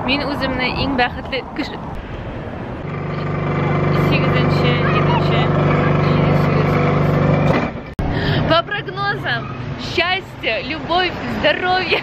Мин үземне иң бәхетле кеше. Сигезенче, егенче, По прогнозам, счастье, любовь, здоровье.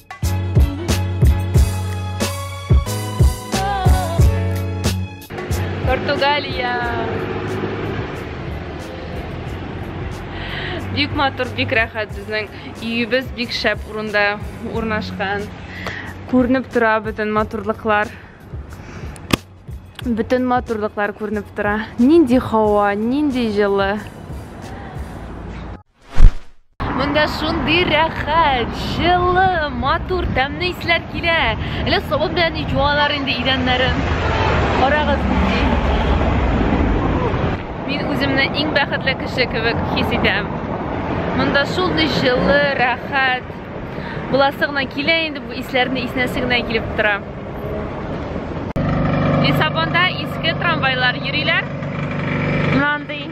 Португалия. Бик матур, бик рәхәт безнең өебез бик шәп урында урнашкан. Күренеп тора бөтен матурлыклар. Бөтен матурлыклар күренеп тора. Нинди һава, нинди җылы. Монда шундый рәхәт, җылы, матур, тәмле исләр килә. Әле сабын белән җуалар инде идәннәрен. Карагыз. Мин үземне иң бәхетле кеше кебек хис итәм. Монда шундый җылы, рәхәт. Буласы гына килә инде бу исләрне иснәсе генә килеп тора. Лиссабонда иске трамвайлар йөриләр. Мынандый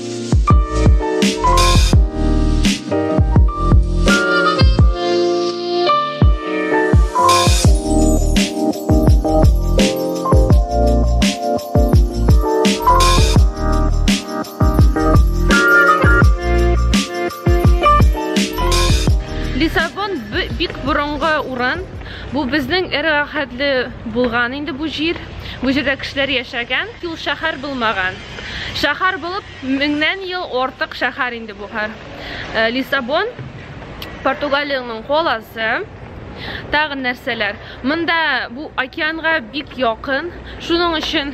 Бу безнең эрахәтле булган инде бу җир. Бу җирдә кешеләр яшәгән, юл шәһәр булмаган. Шәһәр булып меңнән ел артык шәһәр инде бу хәр. Э, Лиссабон Португалиянең коласы. Тагын нәрсәләр? Монда бу океанга бик якын. Шуның өчен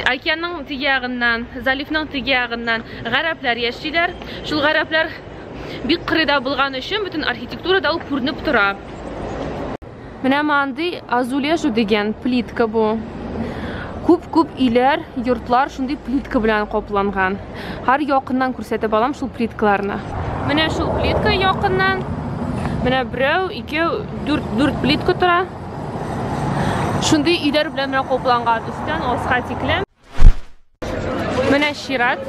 океанның теге ягыннан, заливның теге ягыннан гарәпләр яшиләр. Шул гарәпләр бик кырыйда булган өчен бөтен архитектурада ул күренеп тора. Менә мандый азулежу дигән плитка бу. Күп-күп иләр, йортлар шундый плитка белән капланган. Хәр якыннан күрсәтеп алам шул плиткаларны. Менә шул плитка якыннан. Менә берәү, икәү, дүрт, дүрт плитка тора. Шундый иләр белән менә капланган. Өстән аска тикле. Менә чират.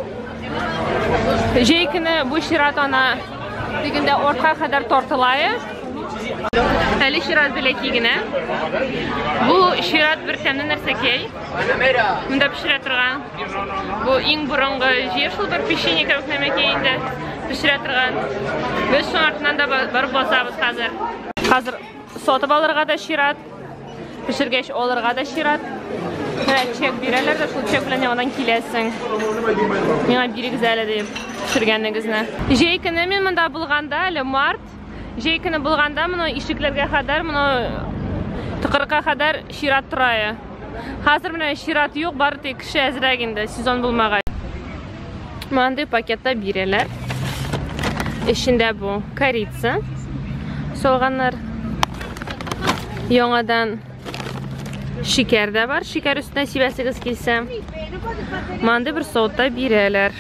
Җәй көне бу чират ана дигәндә ортка кадәр тартыла. Әле чират беләки генә. Бу чират бер тәмле нәрсәкәй. Монда пешерә торган. Бу иң борынгы җир шул бер печенье кебек нәмәкәй инде. Пешерә торган. Без шуның артыннан да барып басабыз хәзер. Хәзер сатып алырга да чират. Пешергәч алырга да чират. Менә чек бирәләр дә, шул чек белән яңадан киләсең. Миңа бирегез әле дип пешергәнегезне. Җәй көне мин монда булганда, әле март, җәй көне булганда моны ишекләргә кадәр, моны тыкырыкка кадәр чират тора. Хәзер менә чират юк, бары тик кеше әзрәк инде, сезон булмагач. Мынандай пакетта бирәләр. Эчендә бу корица, солганнар. Яңадан шикәр дә бар. Шикәр өстенә сибәсегез килсә. Мынандай бер сотта бирәләр.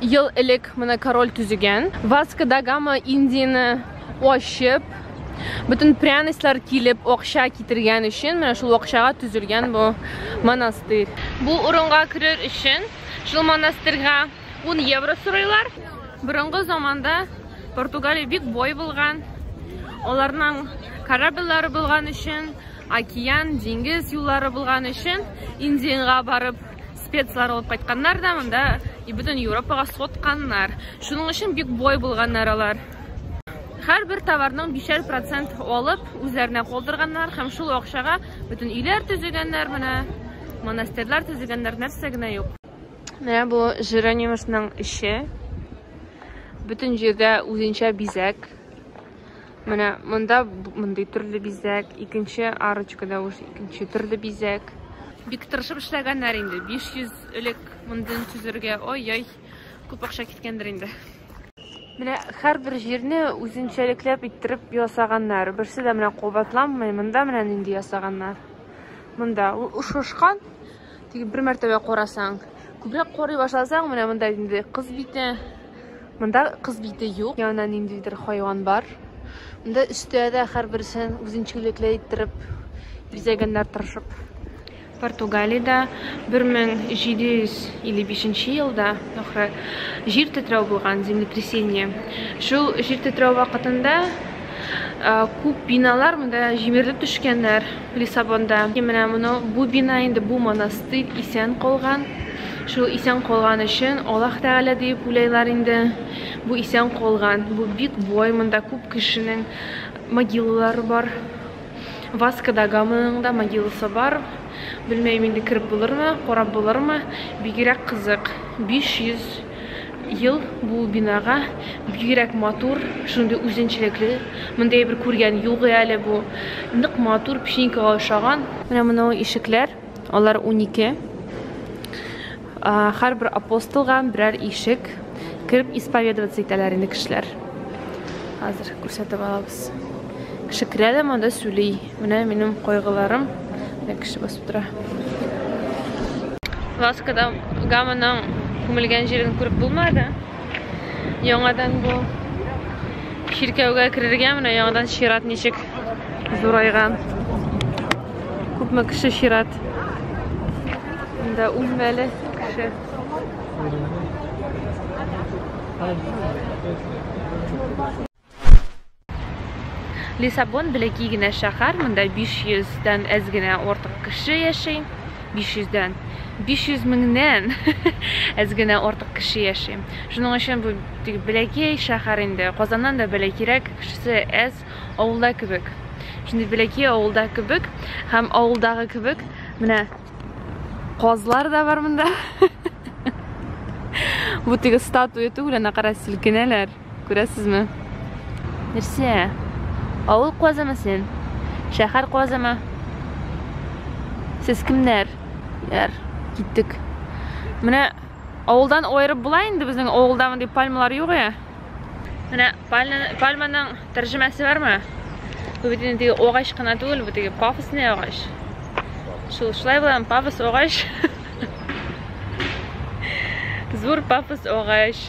ел элек менә король төзегән. Васка да гама Индияне ачып, бөтен пряностьлар килеп, акча китергән өчен, менә шул акчага төзелгән бу монастырь. Бу урынга керер өчен шул монастырьга 10 евро сорыйлар. Борынгы заманда Португалия бик бай булган. Аларның корабльләре булган өчен, океан, диңгез юллары булган өчен Индиягә барып Спецлар алып кайтканнар да монда и бөтен Европага сотканнар. Шуның өчен бик бай булганнар алар. Һәрбер товарның бишәр процент алып, үзләренә калдырганнар һәм шул акчага бөтен өйләр төзегәннәр менә, монастырьлар төзегәннәр, нәрсә генә юк. Менә бу Жеронимусның эше. Бөтен җирдә үзенчә бизәк. Менә монда мондый төрле бизәк, икенче арочкада уж икенче төрле бизәк. Бик тырышып эшләгәннәр инде. 500 элек мондын төзергә, ой-ой, күп акча киткәндер инде. Менә һәрбер җирне үзенчәлекләп иттереп ясаганнар. Берсе дә менә кабатланмый. Монда менә нинди ясаганнар. Монда ушышкан Тик бер мәртәбә карасаң, күбрәк карый башласаң, менә монда инде кыз бите. Монда кыз бите юк. Янында ниндидер хайван бар. Монда өстә дә һәрберсен үзенчәлекле иттереп бизәгәннәр тырышып. Португалиядә 1755 елда ахры җир тетрәү булган, землетрясение. Шул җир тетрәү вакытында күп биналар монда җимерелеп төшкәннәр. Лиссабонда. Менә моны, бу бина инде, бу монастырь исән калган. Шул исән калган өчен Аллаһ Тәгалә диеп уйлайлар инде. Бу исән калган, бу бик бай, монда күп кешенең могилалары бар. Васко да Гаманың да могиласы бар. Белмәем инде кереп булырмы, карап булырмы. Бигрәк кызык. 500 Ел бу бинага бигрәк матур, шундый үзенчәлекле. Мондый бер күргән юк әле бу. Нык матур, печенькага ошаган. Менә моны ишекләр, алар унике. Һәрбер апостолга берәр ишек. Кереп исповедоваться итәләр инде кешеләр. Хәзер күрсәтеп алабыз. Кеше керә дә монда сүли. Менә минем кайгыларым. Менә кеше басып тора. Ласкада гамының күмелгән җирен күреп булмады. Яңадан бу чиркәүгә керергә менә яңадан чират ничек зурайган. Күпме кеше чират. Монда үлмәле кеше. Лиссабон бәләкәй генә шәһәр, монда 500 дән әз генә артык кеше яши. 500 дән 500 меңнән әз генә артык кеше яши. Шуның өчен бу бәләкәй шәһәр инде. Казаннан да бәләкәйрәк, кешесе әз, авылда кебек. Шундый бәләкәй авылда кебек һәм авылдагы кебек менә казлар да бар монда. Бу теге статуя түгел, ана кара селкенәләр. Күрәсезме? Нәрсә? Авыл куазымы син? Шәһәр куазымы? Сез кемнәр? Яр, киттек. Менә авылдан айырып була инде безнең авылда мондый пальмалар юк я. Менә пальманың тәрҗемәсе бармы? Бу бит инде агач кына түгел, бу теге пафосный агач. Шул шулай булам, пафос агач. Зур пафос агач.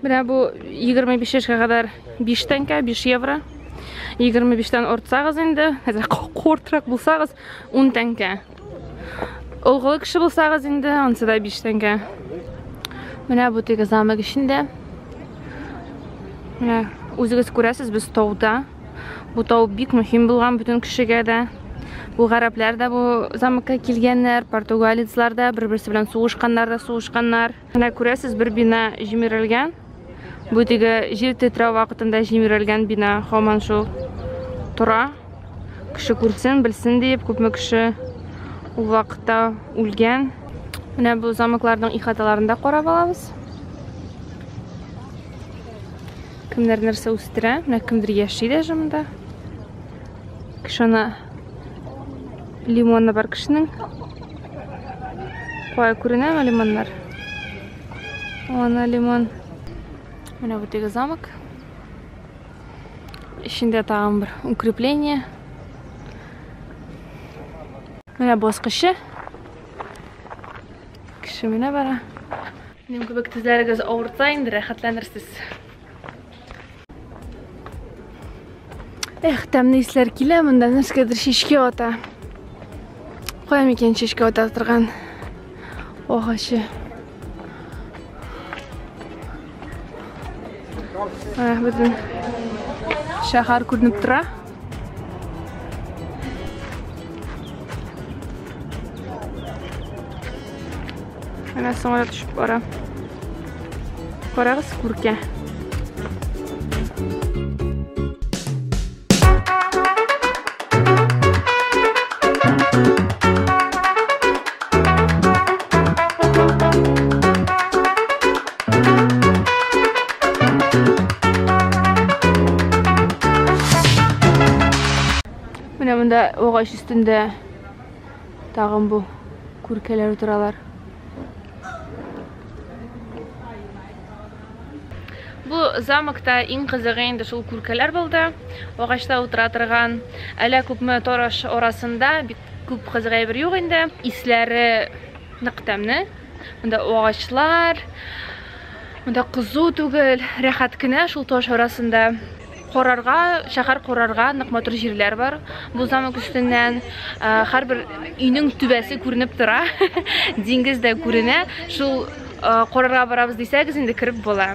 Менә бу 25 яшькә кадәр 5 тәңкә, 5 евро. 25-тән артсагыз инде, хәзер кортрак булсагыз 10 тәңкә. Олгылы кеше булсагыз инде, ансы да 5 тәңкә. Менә бу теге замок эчендә. Менә үзегез күрәсез, без тауда. Бу тау бик мөһим булган бөтен кешегә дә. Бу гарәпләр дә бу замокка килгәннәр, португалецлар да, бер-берсе белән сугышканнар да сугышканнар. Менә күрәсез, бер бина җимерелгән. Бу теге җир тетрәү вакытында җимерелгән бина һаман шул тора. Кеше күрсен, белсен диеп, күпме кеше ул вакытта үлгән. Менә бу замокларның ихаталарын да карап алабыз. Кемнәр нәрсә үстерә? Менә кемдер яши дә шунда. Кеше аны Лимоны бар кешенең. Кая күренәме лимоннар? Ана лимон. Менә бу теге замок. Эчендә тагын бер укрепление. Менә баскычы. Кеше менә бара. Минем кебек тезләрегез авырта инде, рәхәтләнерсез. Эх, тәмле исләр килә, монда нәрсәгәдер шешкә ата. Кая микән шешкә ата торган агачы. Ә, бөтен шәһәр күренеп тора. Менә самолет төшеп бара. Карагыз күркә. Менә монда огач өстендә тагын бу күркәләр утыралар. Бу замокта иң кызыгы инде шул күркәләр булды. Агачта утыра торган әлә күпме торыш арасында бик күп кызык әйбер юк инде. Исләре нык тәмне. Монда агачлар, монда кызу түгел, рәхәт кенә шул таш арасында. Корарга, шәһәр корарга нык матур җирләр бар. Бу замок өстеннән һәрбер өйнең түбәсе күренеп тора. Диңгез дә күренә. Шул корарга барабыз дисәгез, инде кереп була.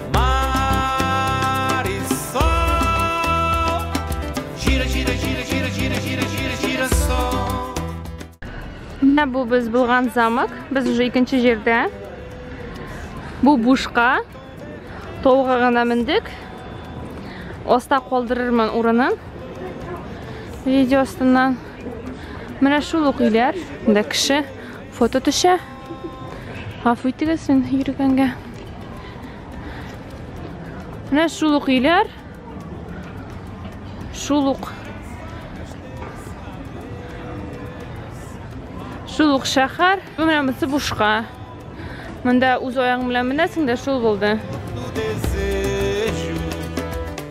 Менә бу без булган замок. Без уже икенче җирдә. Бу бушка. Толга гына мендек. Аста калдырырмын урынын. Видео астыннан. Менә шул ук өйләр. Монда кеше. Фото төшә. Гафу итегез, мин йөргәнгә. Менә шул ук өйләр. Шул ук. Шул ук шәһәр. Менә монысы бушка. Монда үз аягың белән менәсең дә шул булды.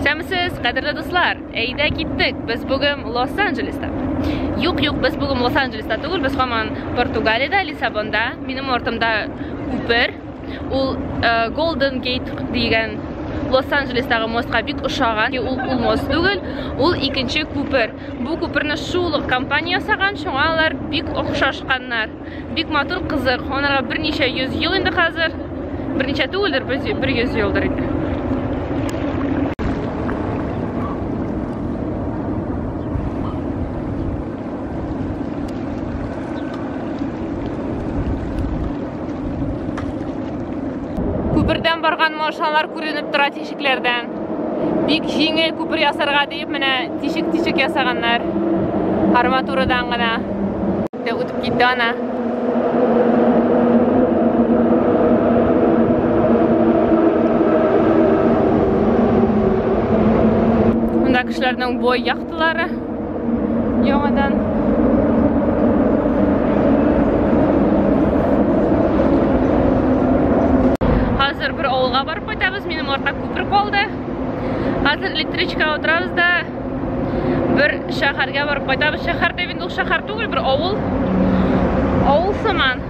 Сәмсез, кадерле дуслар, әйдә киттек, без бүген Лос-Анджелеста. Юк, юк, без бүген Лос-Анджелеста түгел, без хаман Португалиядә, Лиссабонда, минем ортымда күпер. Ул э, Golden Gate дигән Лос-Анджелестагы мостка бик ошаган. Ул ул мост түгел, ул икенче күпер. Бу күперне шул компания ясаган, шуңа алар бик охшашканнар. Бик матур кызык. Анарга берничә йөз ел инде хәзер. Берничә түгелдер, бер йөз елдыр инде. Күпердән барган машиналар күренеп тора тишекләрдән. Бик җиңел күпер ясарга Менә тишек-тишек ясаганнар. Арматурадан гына. Дә үтеп китте ана. Монда кешеләрнең бой яхталары яңадан Хәзер электричкага утырабыз да бер шәһәргә барып кайтабыз. Шәһәр дип инде ул шәһәр түгел, бер авыл. Авыл сыман.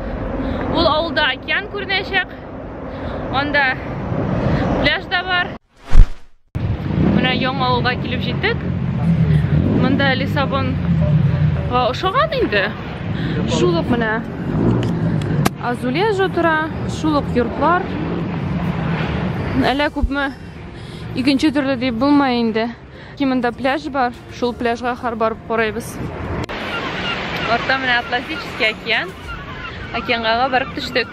Ул авылда океан күренәчәк. Анда пляж да бар. Менә яңа авылга килеп җиттек. Монда Лиссабон ошаган инде. Шул ук менә Азулежо тора, шул ук йортлар. Әллә күпме икенче төрле дип булмай инде. Кимендә пляж бар, шул пляжга хар барып карыйбыз. Артта менә Атлантический океан. Океанга барып төштек.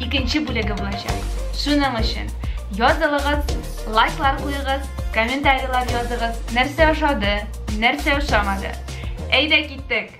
икенче бүлеге булачак. Шуның өчен язылыгыз, лайклар куегыз, комментарийлар языгыз, нәрсә ошады, нәрсә ошамады. Әйдә киттек!